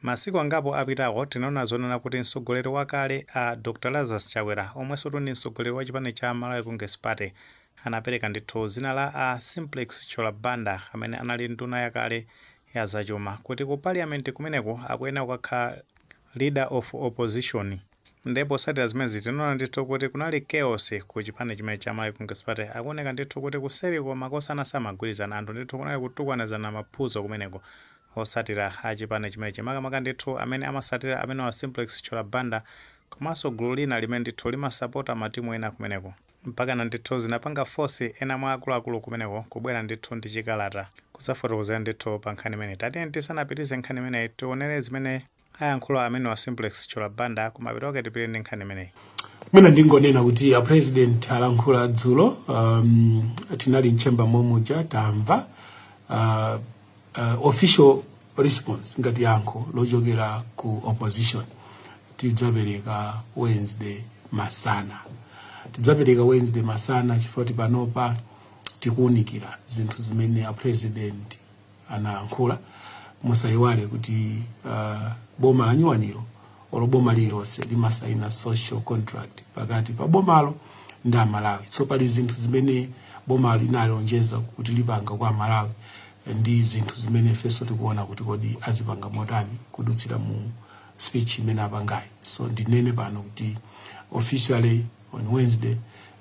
Masiku angapo apitawo tinaona zonena kuti mtsogoleri wakale a Dr Lazarus Chakwera omwensotu ndi mtsogoleri wa chipani cha Malawi Congress Party anapereka ndithu dzina la a Simplex Chithyola Banda amene anali nduna yakale ya zachuma kuti ku Parliament kumeneko akuyenera kukakhala Leader of Opposition nde potsatira zimenezi tinaona ndithu kuti kunali chaos ku chipani chimenechi cha Malawi Congress Party akuoneka ndithu kuti kuseriko makosana samagwirizana anthu ndithu kunali kutukwanizana maphuzo kumeneko osatira a chipani chimenechi makamaka ndithu amene amasatira amenewa a Simplex Chithyola Banda komanso gulu lina limene ndithu limasapota ma timu ena kumeneko mpakana ndithu zinapanga force ena mwa akuluakulu kumeneko kubwera ndithu ndi chikalata kudzafotokozera ndithu pa nkhani imeneyi. Tatiyeni tisanapitilize nkhani imeneyi tionele zimene Ayankhula amenewa a Simplex Chithyola Banda ku mapeto kwake tipite ndi nkhani imeneyi. Ine ndingonena kuti a president alankhula dzulo um, tinali mchemba momuja tamva uh, uh, official response ngati yankho lochokera ku opposition tidzapereka Wednesday masana tidzapereka Wednesday masana chifukwa panopa tikuunikira zinthu zimene a president anayankhula. Musayiwale kuti uh, boma la nyuwanilo olo boma lililonse limasaina social contract pakati pa bomalo ndi amalawi so pali zinthu zimene boma linalonjeza kuti lipanga kwa amalawi ndi zinthu zimene ifenso tikuona kuti kodi azipanga motani kudutsira mu speech imene apangayi so ndinene pano kuti officially on wednesday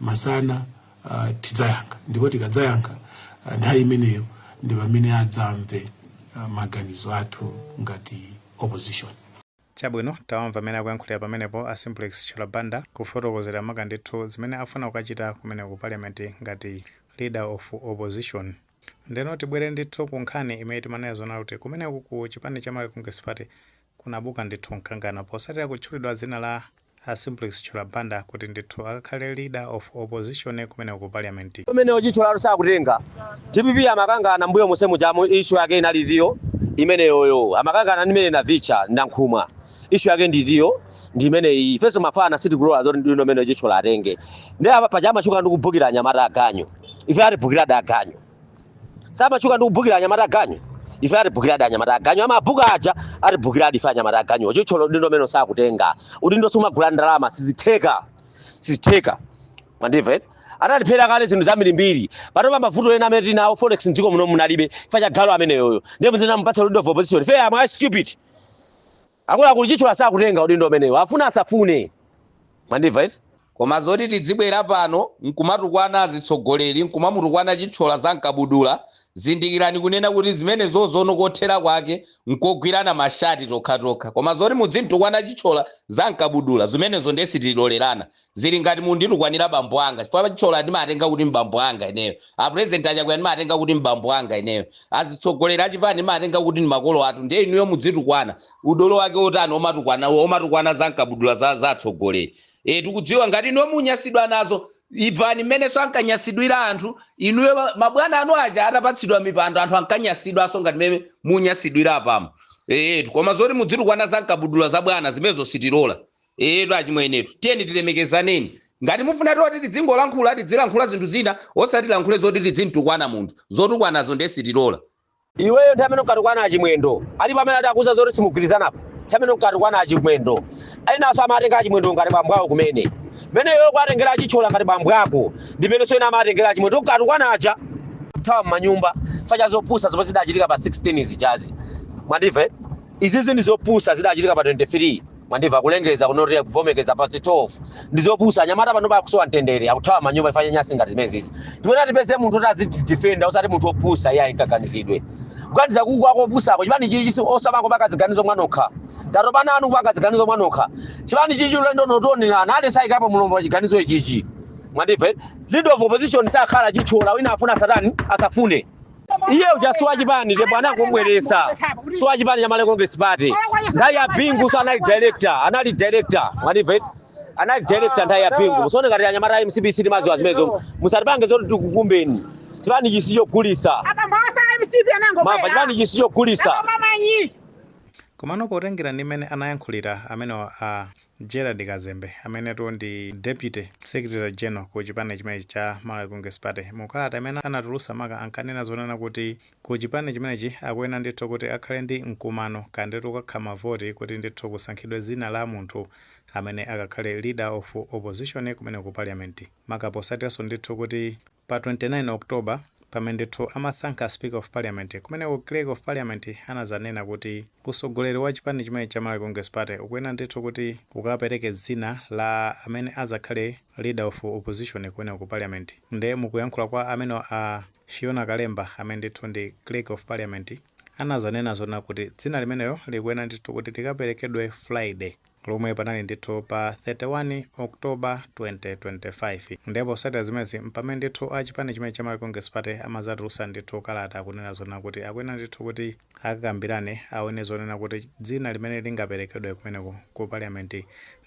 masana uh, tidzayankha ndipo tikadzayankha uh, nthawi imeneyo ndi pamene adzamve uh, maganizo athu ngati opposition chabwino tawamva amene akuyankhulira pamenepo a simplex chithyola banda kufotokozera maka ndithu zimene afuna kukachita kumeneko ku parliament ngati leader of opposition ndeno tibwere ndithu ku nkhani imene timanena zonena kuti kumeneko ku chipani cha malawi congress party kunabuka ndithu mkangano posatira kutchulidwa dzina la a Simplex Chithyola Banda kuti ndithu akakhale leader of opposition kumeneko ku parliament. Pamene o Chithyola sakutenga, dpp amakangana mmbuyo monse mujamu issue yake inali itiyo? Imeneyoyo. Amakangana ndi mayi Navitcha, Nankhumwa. Issue yake ndi itiyo? Ndi imeneyi. Ifenso mafana sitikulora zoti udindo umenewu o Chithyola atenge. Ndiye apa paja amatchuka ndi kubukira anyamata aganyu. Ife atibukiradi aganyu. amatchuka ndi kubhukira anyamata aganyu ife atibhukiradi anyamata aganyu amabhuka aja atibhukiradi ife anyamata aganyu o Chithyola udindo umenewu sakutenga udindo sumagula ndi ndalama sizitheka sizitheka mandimve anatiphera kale zinthu zambirimbiri patopa mavuto ena amene tinawo forex mdziko muno munalibe ife chifukwa galu ameneyoyo ndiye muzimupatsa leader of opposition ife am I stupid Akuluakulu Chithyola sakutenga udindo umenewu afune asafune mwandimva eti. Koma zoti tidzibwera pano nkumatukwana azitsogoleri nkumamutukwana Chithyola za m'kabudula zindikirani kunena kuti zimenezozono kothera kwake nkogwirana mashati tokhatokha koma zoti mudzimtukwana Chithyola za m'kabudula zimenezo nde sitilolerana zili ngati munditukwanira bambo anga chifukwa Chithyola ndimatenga kuti m'bambo anga ineyo a President a Chakwera ndimatenga kuti m'bambo anga ineyo azitsogoleri achipani ndimatenga kuti ndi makolo athu ndiye inuyo mudzitukwana udolo wake wotani omatukwana omatukwana za mkabudula za za atsogoleri e tikudziwa ngati inuyo munyasidwa nazo ivani mmenenso ankanyasidwira anthu inuyo ma- mabwana anu aja atapatsidwa mipando anthu ankanyasidwanso ngati mmene munyasidwira apamo eetu koma zoti mudzitukwana za mkabudula za bwana zimenezo sitilola Eyetu achimwenetu, tiyeni tilemekezaneni. Ngati mufuna zoti tidzingolankhula, tidzilankhula zinthu zina osati tilankhule zoti tidzimtukwana munthu. Zotukwanazo ndiye sitilola. Iweyo nthawi imene unkatukwana a Chimwendo alipo amene adakuuza zoti simugwirizanapo? Nthawi imene unkatukwana a Chimwendo enanso amawatenga a Chimwendo ngati bambo awo kumene. Mmene iweyo ukuwatengera a Chithyola ngati bambo ako ndi mmenenso ena amawatengera a Chimwendo unkatukwana aja akuthawa m'manyumba chifukwa cha zopusa zomwe zidachitika pa 16 zijazi. Mwandimva? eh? Izizi ndi zopusa zidachitika pa 23. Mwandimva kulengeza kuno kuti kuvomekeza past 12 ndi zopusa. Anyamata panopa akusowa mtendere, akuthawa manyumba chifukwa cha nyansi ngati zimenezi. Tiyeni tipeze munthu woti azidifenda osati munthu opusa iye ayinkaganizidwe. Kuganiza kuku kwako opusako chipani chichi si cha amako kupanga ziganizo mwanokha. Tatopa nanu kupanga ziganizo mwanokha. Chipani chichi ulendo uno tionerana aliyense ayikapo mulomo wa chiganizo ichichi. Mwandimva? Leader of opposition sakhala Chithyola wina afuna satani asafune. iye uja si wachipani ndipo anangomubweretsa si wachipani cha malawi congress party nthawi ya Bingunso anali director anali director mwandimva eti? anali director nthawi ya Bingu musaone ngati anyamata a MCP sitimadziwa zimenezo musatipange zoti tikukumbeni chipani ichi si chogulitsa apa mphasa mcp anango mava chipani ichi si chogulitsa mamanyi komano potengera ndi mmene anayankhulira amenewa a Gerald Kazembe, amenetu ndi Deputy Secretary General ku chipani chimenechi cha Malawi Congress Party, mu kalata imene anatulutsa maka ankanena zonena kuti ku chipani chimenechi akuyenera ndithu kuti akhale ndi mkumano kapena ndithu kukakhala mavoti kuti ndithu kusankhidwe dzina la munthu amene akakhale Leader of Opposition kumeneko ku Parliament, maka potsatiranso ndithu kuti Pa 29 October pamene ndithu amasankha speaker of parliament kumeneko clerk of parliament anazanena kuti utsogoleri wa chipani chimenechi cha Malawi Congress Party ukuyenera ndithu kuti ukapereke dzina la amene azakhale leader of opposition kumeneko ku parliament nde mukuyankhula kwa amenewa a Fiona Kalemba amene ndithu ndi clerk of parliament anazanena zonena kuti dzina limenelo likuyenera ndithu kuti likaperekedwe Friday lomwe panali ndithu pa 31 October 2025 nde posatira zimenezi mpamene ndithu a chipani chimenechi cha Malawi Congress Party amazatulusa ndithu kalata kunena zonena kuti akuyenera ndithu kuti akakambirane awone zonena kuti dzina limene lingaperekedwe kumeneko ku Parliament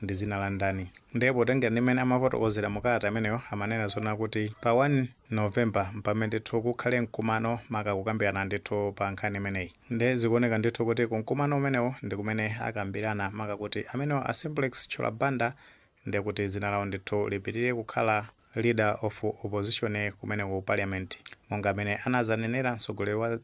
ndi dzina la ndani nde potengera ndi mmene amafotokozera mu kalata imeneyo amanena zonena kuti pa 1 November mpamene ndithu kukhale mkumano maka kukambirana ndithu pa nkhani imeneyi. Nde zikuoneka ndithu kuti kumkumano umenewo ndikumene akambilana maka kuti amenewa a Simplex Chithyola Banda ndekuti dzina lawo ndithu lipitilire kukhala Leader of Opposition kumeneko ku Parliament monga mmene anazanenera mtsogoleri wa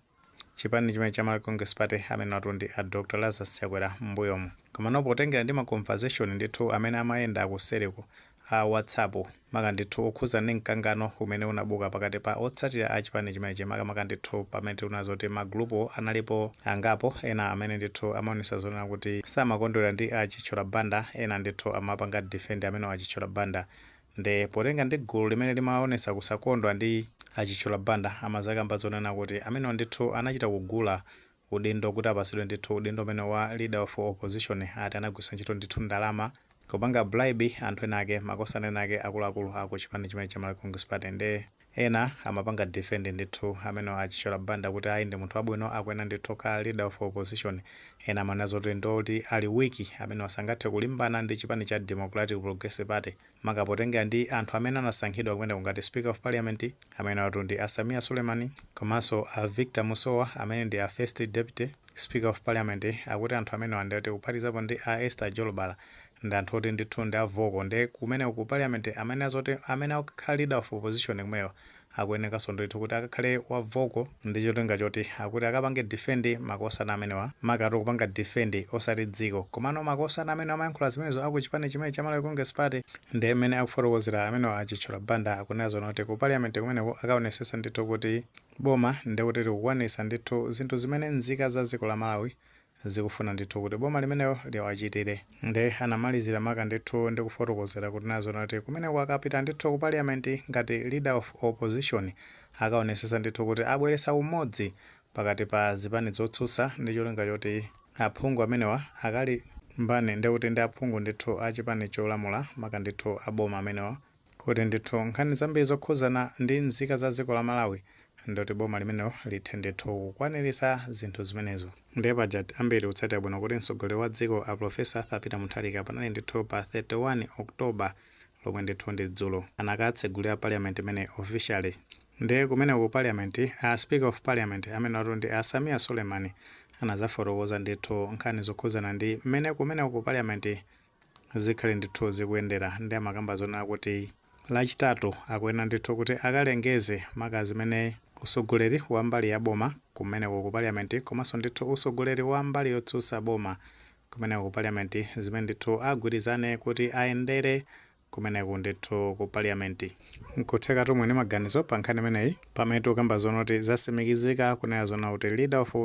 chipani chimenechi cha Malawi Congress Party amenewatu ndi a Dr Lazarus Chakwera m'mbuyomu. Komano potengera ndi ma conversation ndithu amene amayenda kuseliko ku WhatsApp, maka ndithu okhudza ndi mkangano umene unabuka pakati pa otsatira a chipani chimenechi makamaka ndithu pamene tinaona zoti magulupu analipo angapo ena amene ndithu amaonesa zonena kuti samakondwera ndi a Chithyola Banda ena ndithu amapanga defend amenewa a Chithyola Banda nde potenga ndi gulu limene limaonesa kusakondwa ndi a Chithyola Banda amazakamba zonena kuti amenewa ndithu anachita kugula udindo kuti apasidwe ndithu udindo umenewu wa leader of opposition ati anagwisa ntchito ndithu ndalama kupanga bribe anthu ena ake makosana ena ake akuluakulu aku chipani chimenechi cha Malawi Congress Party nde ena amapanga defend ndithu amenewa a Chithyola Banda kuti ayi ndi munthu wabwino akuyenera ndithu kukhala leader of opposition ena amanena zoti ndiwoti ali weak amenewa sangathe kulimbana ndi chipani cha Democratic Progressive Party maka potengera ndi anthu amene anasankhidwa kumeneko ngati Speaker of Parliament, amenewatu ndi a Sameer Suleiman komanso a Victor Musowa amene ndi a First Deputy Speaker of Parliament, akuti anthu amenewa ndi oti kuphatikizapo ndi a Esther Jolobala ndi anthu oti ndithu ndi a vocal nde kumeneko ku Parliament amanena zoti amene akakhale Leader of Opposition kumeneko akuyenekaso ndithu kuti akakhale wa vocal ndi cholinga choti akuti akapange defend makosana amenewa makatu kupanga defend osati dziko komano makosana amenewa amayankhula zimenezo aku chipani chimenechi cha Malawi Congress Party nde mmene akufotokozera amenewa a Chithyola Banda akunena zonena kuti ku parliament kumeneko akaonesesa ndithu kuti boma ndekuti likukwanisa ndithu zinthu zimene nzika za dziko la Malawi zikufuna ndithu kuti boma limenelo liwachitire. Nde anamalizira maka ndithu ndi kufotokozera kunena zonena kuti kumeneko akapita ndithu ku parliament ngati leader of opposition akaonesesa ndithu kuti abweresa umodzi pakati pa zipani zotsutsa ndi cholinga choti aphungu amenewa akalimbane ndekuti ndi aphungu ndithu a chipani cholamula maka ndithu a boma amenewa Kuti ndithu nkhani zambiri zokhuzana ndi nzika za dziko la Malawi ndikuti boma limenelo lithe ndithu kukwanilitsa zinthu zimenezo. Ndiye pajatu ambiri tikutsatira bwino kuti mtsogoleri wa dziko a Prof Arthur Peter Mutharika panali ndithu pa 31 October lomwe ndithu ndi dzulo anakatsegulira parliament imeneyi officially ndiye kumeneko ku parliament a speaker of parliament amenewatu ndi a Sameer Suleiman anadzafotokoza ndithu nkhani zokhuzana ndi mmene kumeneko ku parliament Zikhale ndithu zikuyendera nde amakamba zonena kuti lachitatu akuyenera ndithu kuti akalengeze maka zimene utsogoleri wa mbali ya boma kumeneko ku parliament komanso ndithu utsogoleri wa mbali yotsutsa boma kumeneko ku parliament zimene ndithu agwirizane kuti ayendere kumeneku ndithu ku parliament. Nkuthekatu muli ndi maganizo pa nkhani imeneyi pamene tikukamba zoona kuti zatsimikizika kunena zoona kuti leader of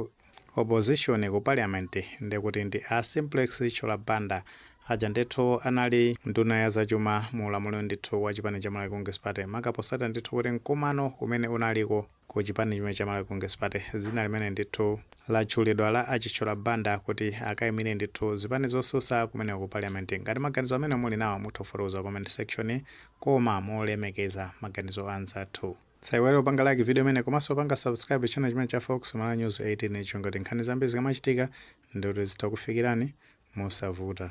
opposition ku parliament ndiye kuti ndi a Simplex Chithyola Banda aja ndithu anali nduna ya zachuma mu ulamuliro ndithu wa chipani cha Malawi Congress Party maka potsatira ndithu kuti mkumano umene unaliko ku chipani chimene cha Malawi Congress Party, dzina limene ndithu latchulidwa la a Chithyola Banda kuti akaimire ndithu zipani zotsutsa kumeneko ku Parliament. Ngati maganizo amenewo muli nawo mutha kufotokoza ku comment section koma molemekeza maganizo a anzathu. Osaiwala kupanga like video imeneyi komanso kupanga subscribe channel chimene cha Fox Malawi News 18 cholinga choti nkhani zambiri zikamachitika ndithu zitha kukufikirani mosavuta.